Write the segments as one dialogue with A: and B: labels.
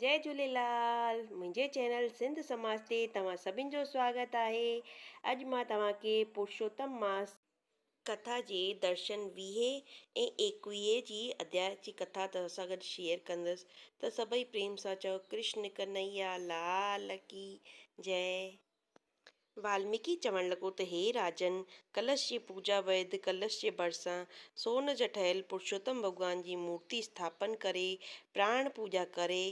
A: جئي جهوليلال منهنجي چينل سنڌ سماج تي توهان سڀن جو سواگت آهي اڄ مان توهان کي پرشوتم ماس ڪٿا جي درشن ويهي ۽ ايڪويهي جي اڌياء جي ڪٿا توهان سان گڏ شيئر ڪندس ته سڀئي پريم سان چئو ڪرشن ڪنهيا لال ڪي جئي والميڪي چوڻ لڳو ته هي راجن! ڪلش جي پوڄا ويد ڪلش جي ڀرسان سون جا ٺهيل پرشوتم ڀڳوان جي مورتي اسٿاپن ڪري پراڻ پوڄا ڪري،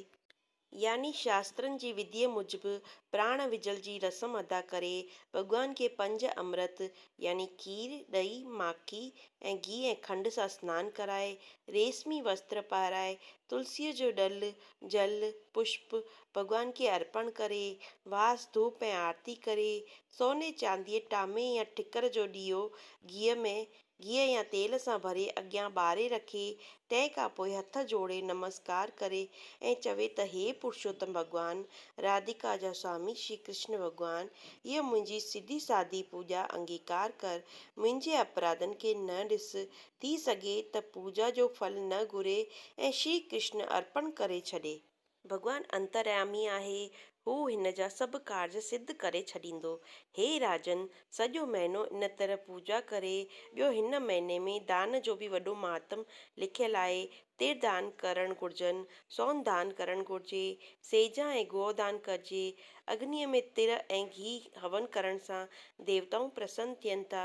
A: يعني شاسترن جي وڌيء موجب پراڻ وجهل جي رسم ادا ڪري، ڀڳوان کي پنج امرت يعني کير، ڏهي، ماکي ۽ گيهه ۽ کنڊ سان سنان ڪرائي، ريسمي وستر پهرائي، تلسيء جو ڏل، جل، پشپ، ڀڳوان کي ارپڻ ڪري، واس، ڌوپ ۽ آرتي ڪري، سوني چانديء، ٽامي يا ٺڪر جو ڏيئو گيهه ۾ گيهه يا تيل سان ڀري اڳيان ٻاري رکي، تنهن کان پوء هٿ جوڙي نمسڪار ڪري ۽ چوي ته هي پرشوتم ڀڳوان، راڌيڪا جا سوامي شري ڪرشن ڀڳوان، هيء منهنجي سڌي سادي پوڄا انگيڪار ڪر، منهنجي اپراڌن کي نه ڏس، ٿي سگهي ته پوڄا جو ڦل نه گهري ۽ شري ڪرشن ارپڻ ڪري ڇڏي. ڀڳوان انتريامي آهي، هو هن جا سڀ ڪارج سڌ ڪري ڇڏيندو. هي راجن! سڄو مهينو ان طرح پوڄا ڪري، ٻيو هن مهيني ۾ دان جو به وڏو مهاتم لکيل آهي، تر دان ڪرڻ گهرجن، سون دان ڪرڻ گهرجي، سيجا ۽ گوء دان ڪرجي، اگنيء ۾ تر ۽ گيهه هون ڪرڻ سان ديوتائون پرسن ٿين ٿا،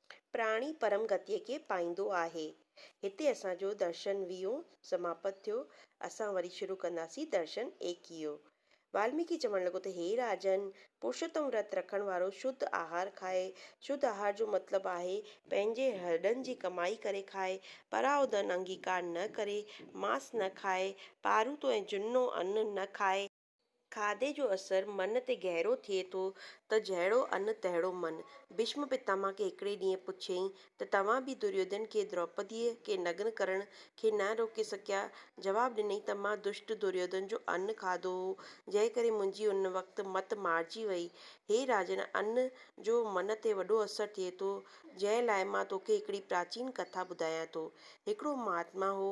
A: پراڻي پرم گتيء کي پائيندو آهي. هتي اسان جو درشن ويهون سماپت ٿيو. اسان وري شروع ڪنداسين درشن ايڪيهو. والميڪي چوڻ لڳو ته هي راجن! پرشوتم ورت رکڻ وارو شڌ آهار کائي. شڌ آهار جو مطلب آهي. پنهنجي هڏن جي ڪمائي ڪري کائي. پراء ڌن انگيڪار نه ڪري. ماس نه کائي. پاروٿو ۽ جنو ان نه کائي. کاڌي جو اثر من تي گهرو ٿئي ٿو ته جهڙو ان تهڙو من. ڀيشم پتاما کي هڪڙي ڏينهن پڇيائين ته توهان به دريودن کي دروپديء کي نگن ڪرڻ کي نه روڪي سگهيا؟ جواب ڏنائين ته مان دشٽ دريودن جو ان کاڌو هو، جنهن ڪري منهنجي ان وقت مت مارجي وئي. هي راجن ان جو من تي وڏو اثر ٿئي ٿو، جنهن لاء مان توکي هڪڙي پراچين ڪٿا ٻڌايان ٿو. هڪڙو مهاتما هو،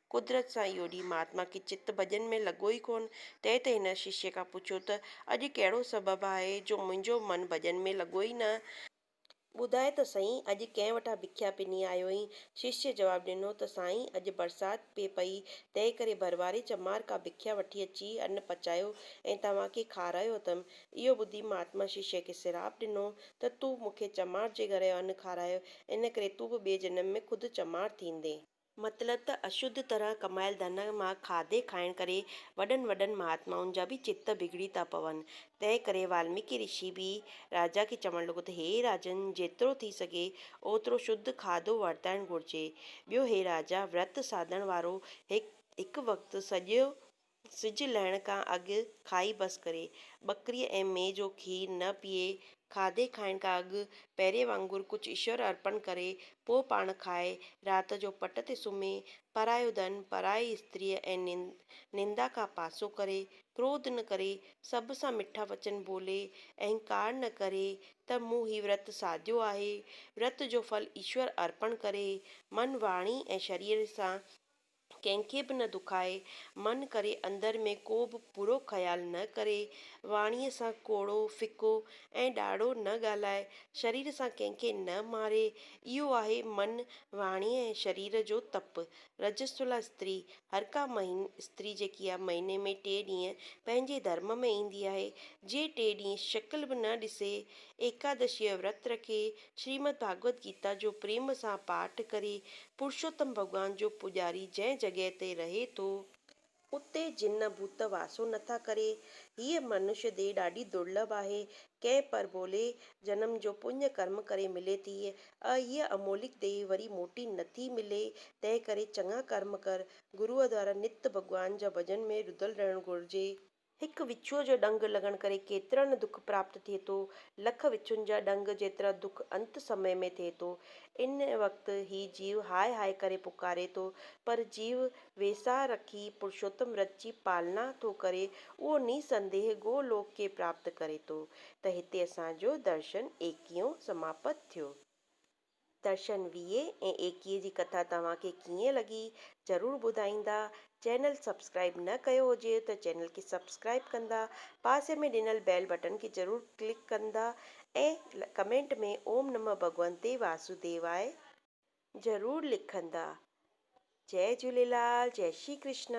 A: قدرت سان اهو ڏينهن مهاتما کي چت ڀڄن ۾ لڳو ئي ڪونه. تنهن تي هن ششيء کان پڇيو ته، اڄ ڪهڙو سبب آهي جو منهنجو من ڀڄن ۾ لڳو ئي نه آهي؟ ٻڌاء ته سائين، اڄ ڪنهن وٽان ڀکيا پني آيو آهين؟ ششيء جواب ڏنو ته، سائين، اڄ برسات پئي پئي، تنهن ڪري ڀرواري چمار کان ڀکيا وٺي اچي ان پچايو ۽ توهان کي کارايو اٿم. اهو ٻڌي مهاتما ششيء کي سراپ ڏنو ته، تون مون کي چمار جي گهر جو ان کارايو، ان ڪري تون به ٻئي جنم ۾ خود چمار ٿيندين. مطلب ته اشڌ طرح ڪمايل ڌن مان کاڌي کائڻ ڪري وڏن وڏن مهاتمائن جا به چت بگڙي ٿا پون. تنهن ڪري والميڪي رشي به راجا کي چوڻ لڳو ته هي راجن جيترو ٿي سگهي اوترو شڌ کاڌو ورتائڻ گهرجي. ٻيو هي راجا ورت ساڌڻ وارو هڪ وقت سڄو سج لهڻ کان اڳ کائي بس ڪري. ٻڪريء ۽ مينهن جو کير نه پيئي، کاڌي کائڻ کان اڳ پهرين وانگر ڪجهه ايشور ارپڻ ڪري، پوء پاڻ کائي، رات جو پٽ تي سمهي، پرايو ڌن، پرائي استريء ۽ نندا کان پاسو ڪري، ڪروڌ نه ڪري، سڀ سان مٺا وچن ٻولي، اهنڪار نه ڪري ته مون هي ورت ساڌيو آهي، ورت جو ڦل ايشور ارپڻ ڪري، من، واڻي ۽ شرير سان ڪنهن کي به نه دکائي، من ڪري اندر ۾ ڪو به برو خيال نه ڪري، واڻيء سان ڪوڙو، ڦڪو ۽ ڏاڙهو نه ڳالهائي، شرير سان ڪنهن کي نه ماري، اهو آهي من، واڻيء ۽ شرير جو تپ. رجسولا استري، هر ڪا مهين استري جيڪي آهي، مهيني ۾ ٽي ڏينهن پنهنجي ڌرم ۾ ايندي آهي، جي ٽي ڏينهن شڪل به نه ڏسي، ايڪادشيء جو ورت رکي، شريمد ڀاڳوت گيتا جو پريم سان پاٺ ڪري، پرشوتم ڀڳوان جو پوڄاري جنهن جڳهه تي رهي ٿو، اتي جن ڀوت واسو نه ٿا ڪري، هيء منش ديهه ڏاڍي درلڀ آهي، ڪنهن پرڀولي جنم جو پڃ ڪرم ڪري ملي ٿي، ۽ هيء امولڪ ديهه وري موٽي نه ٿي ملي، تنهن ڪري چڱا ڪرم ڪر، گروء دوارا نت ڀڳوان جا ڀڄن ۾ رڌل رهڻ گهرجي. هڪ وچوء جو ڏنگ لڳڻ ڪري ڪيترن دک پراپت ٿئي ٿو، لک وچن جا ڏنگ جيترا دک انت سمي ۾ ٿئي ٿو. ان وقت هي جيو هاء هاء ڪري پڪاري ٿو، پر جيو ويساهه رکي پرشوتم رٿ جي پالنا ٿو ڪري، اهو نيسنديهه گو لوڪ کي پراپت ڪري ٿو. ته هتي اسان جو درشن ايڪيون سماپت ٿيو. درشن ويهه ۽ ايڪيهه جي ڪٿا توهان کي ڪيئن لڳي ضرور ٻڌائيندا. چينل سبسڪرائيب نه ڪيو هجيو ته چينل کي سبسڪرائيب ڪندا. پاسي ۾ ڏنل بيل بٽن کي ضرور ڪلڪ ڪندا ۽ ڪمينٽ ۾ اوم نمه ڀڳونتي واسوديواي ضرور لکندا. جئي جهوليلال جئي شري ڪرشنا.